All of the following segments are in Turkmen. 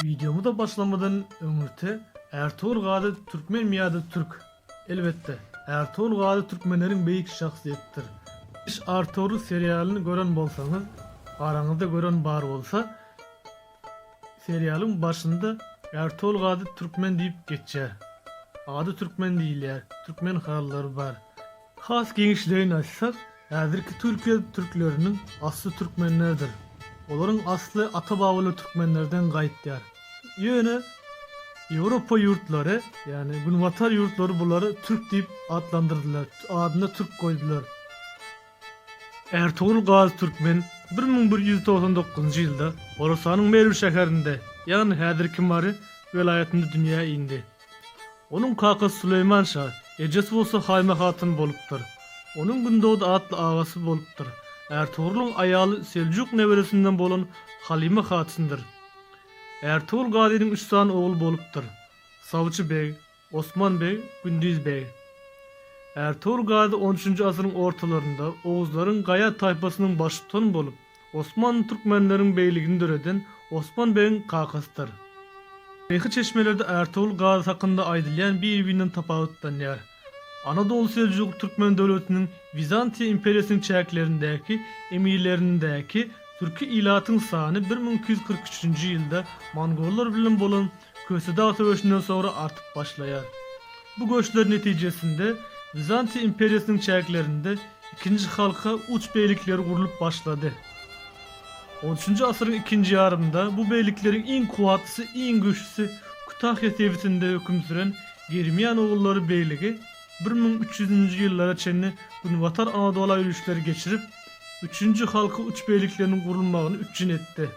Wideomyza başlamadan öňürti Ärtogul Gazy türkmenmi ýa-da türk? Elbetde, Ärtogul Gazy türkmenleriň beýik şahsyýetdir. Iş Arturly serialyny gören bolsaňyz, araňyzda gören bar bolsa, serialyň başynda Ärtogul Gazy türkmen diýip geçýär. Ady türkmen diýilýär, türkmen halylary bar. Has giňişleýin aýtsak, häzirki Türkiýe türkleriniň asly türkmenlerdir. Olaryň asly ata-babalar türkmenlerden gaýtýar. Ýöne Ýewropa ýurtlary, ýagny Günbatar ýurtlary bulary türk diýip atlandyrdylar, adyna türk goýdular. Ärtogul Gazy Türkmen bir müň bir ýüz togsan dokuzynjy ýylda Horasanyň Merw şäherinde, ýagny häzirki Mary welaýatynda dünýä indi. Onuň kakasy Süleýman şa, ejesi bolsa Haýme hatyn bolupdyr. Onuň Gündogdy atly agasy bolupdyr. Ärtogrulyň aýaly Seljuk neberesinden bolan Halyma hatyndyr. Ärtogul gazynyň üç sany ogly bolupdyr. Sawçy beg, Osman beg, Gündiz beg. Ärtogul gazy on üçünji asyryň ortalarynda oguzlaryň gaýa taýpasynyň baştutany bolup, Osman türkmenleriň begligini döreden Osman begiň kakasydyr. Taryhy çeşmelerde Ärtogul Gazy hakynda aýdylýan bir-birinden tapawutlanýar. Anadolu Seljukly türkmen döwletiniň Wizantiýa imperiýasynyň çäklerindäki emirlerindäki türki ilatyň sany bir müň iki ýüz kyrk üçünji ýylda mongollar bilen bolan Kösedag söweşinden soňra artyp başlaýar. Bu göçler netijesinde Wizantiýa imperiýasynyň çäklerinde ikinji halka uç beýlikleri gurlup başlady. On üçünji asyryň ikinji ýarymynda bu beýlikleriň iň kuwatlysy, iň güýçlüsi Kütahýa sebitinde höküm süren Germian ogullary beýligi bir müň üç ýüzünji ýyllara çenli Günbatar Anadola ýörişleri geçirip, üçünji halka uç beýlikleriniň gurulmagyny üpjün etdi.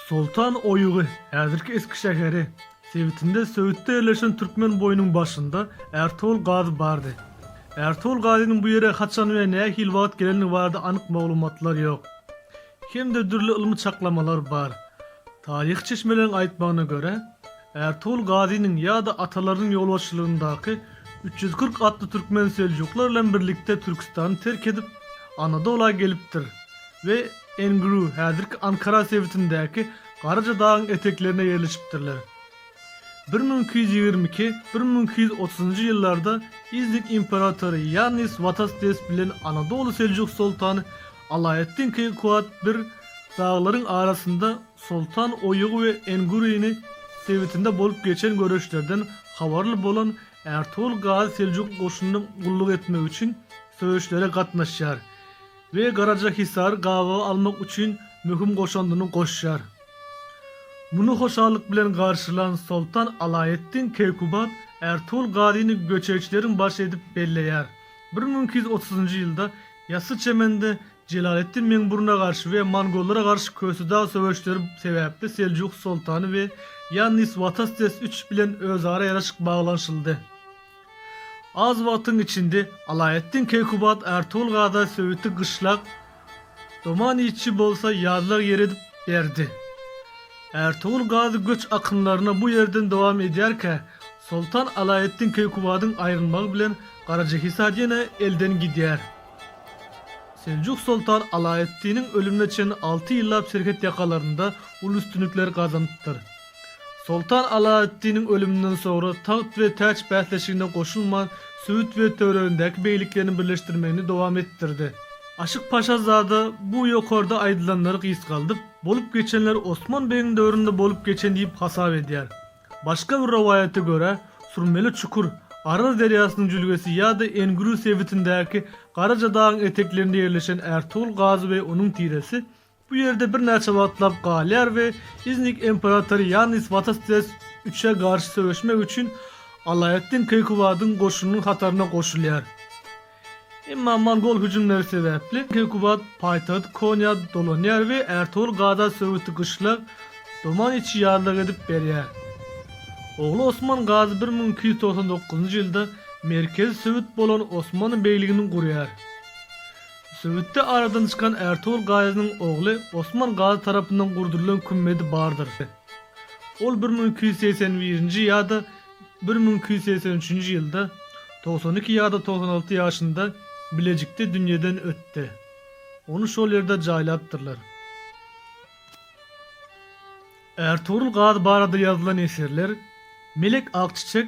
Soltan oýugy, häzirki Eskişeheri, sebitinde söwütde ýerleşen Türkmen boýunyň başynda Ärtogul gazy bardy. Ärtogul gazynyň bu ýere haçan we nähili wagt gelenligi barada anyk maglumatlar ýok. Hem-de dürli ylmy çaklamalar bar. Taryhy çeşmeleriň aýtmagyna görä, Ärtogul gazynyň ýa-da atalarynyň ýolbaşçylygyndaky üç ýüz kyrk atly türkmen seljuklar bilen birlikde Türküstany terk edip, Anadola gelipdir. we Engru häzirki Ankara sebitindäki Garaja dagyň eteklerinde ýerleşipdirler. Bir müň iki ýüz ýigrimi iki, bir müň iki ýüz otuzynjy ýyllarda İznik imperatory Ýannis Watastes bilen Anadoly Seljuk soltany Alaeddin Keýkuat bir daglaryň arasynda Soltan Oýugy we Enguryny sebitinde bolup geçen göreşlerden habarly bolan Ärtogul Gazy Seljuk goşunyna gulluk etmek üçin söweşlere gatnaşýar. we Garajahisary gabawa almak üçin möhüm goşandyny goşýar. Muny hoşallyk bilen garşylan Soltan Alaeddin Keýkubat Ärtugul Gazyny göçeýçileriň başy edip belleýär. Bir müň iki ýüz otuzynjy ýylda Ýassyçemende Jelaleddin Meňburuna garşy we mongollara garşy Kösedag söweşleri sebäpli Seljuk soltany we Ýannis Watastes üç bilen özara ýaraşyk baglanyşyldy. Az wagtyň içinde Alaeddin Keýkubat Ärtugul Gaza söwüti gyşlak, Doman Iýçi bolsa ýazlag ýeri edip berdi. Ärtugul Gazy göç akynlaryna bu ýerden dowam edýärkä, soltan Alaeddin Keýkubadyň aýrylmagy bilen Garajahisar ýene elden gidýär. Seljuk soltan Alaeddiniň ölümine çenli alty ýyllap serhet ýakalarynda uly üstünlikler gazanypdyr. Soltan Alaeddiniň ölüminden soňra tagt we täç bäsleşigine goşulman, Söýüt we töweregindäki beýliklerini birleşdirmegini dowam etdirdi. Aşyk Paşazada bu ýokarda aýdylanlary gysgaldyp, bolup geçenler Osman begiň döwründe bolup geçen diýip hasap edýär. Başga bir rowaýata görä, Surmeli çukur, Araz derýasynyň jülgesi ýa-da Engürü sebitindäki Garajadagyň eteklerinde ýerleşen Ärtogul Gazy we onuň tiresi Bu ýerde birnäçe wagtlap galýar we Iznik imperatory Ýannis Watastres I-e garşy söweşmek üçin Alaeddin Keýkubadyň goşunynyň hataryna goşulýar. Emma mongol hüjümleri sebäpli Keýkubad paýtagt Konýa dolanýar we Ärtogul Gada söwüti gyşlag Doman içi ýazlag edip berýär. Ogly Osman Gazy bir müň iki ýüz togsan dokuzynjy ýylda merkezi söwüt bolan Osmanly begligini gurýar. Söwütde aradan çykan Ärtogul Gazynyň ogly Osman Gazy tarapyndan gurdurylan kümmedi bardyr. Ol bir müň iki ýüz segsen birinji ýa-da bir müň iki ýüz segsen üçünji ýylda, togsan iki ýa-da togsan alty ýaşynda Bilejikde dünýeden ötdi. Ony şol ýerde jaýlapdyrlar. Ärtogrul Gazy barada ýazylan eserler Melek Akçiçek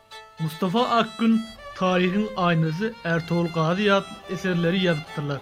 Mustafa Akgün, Taryhyň aýnasy Ärtogul Gazy ýatly eserleri ýazypdyrlar.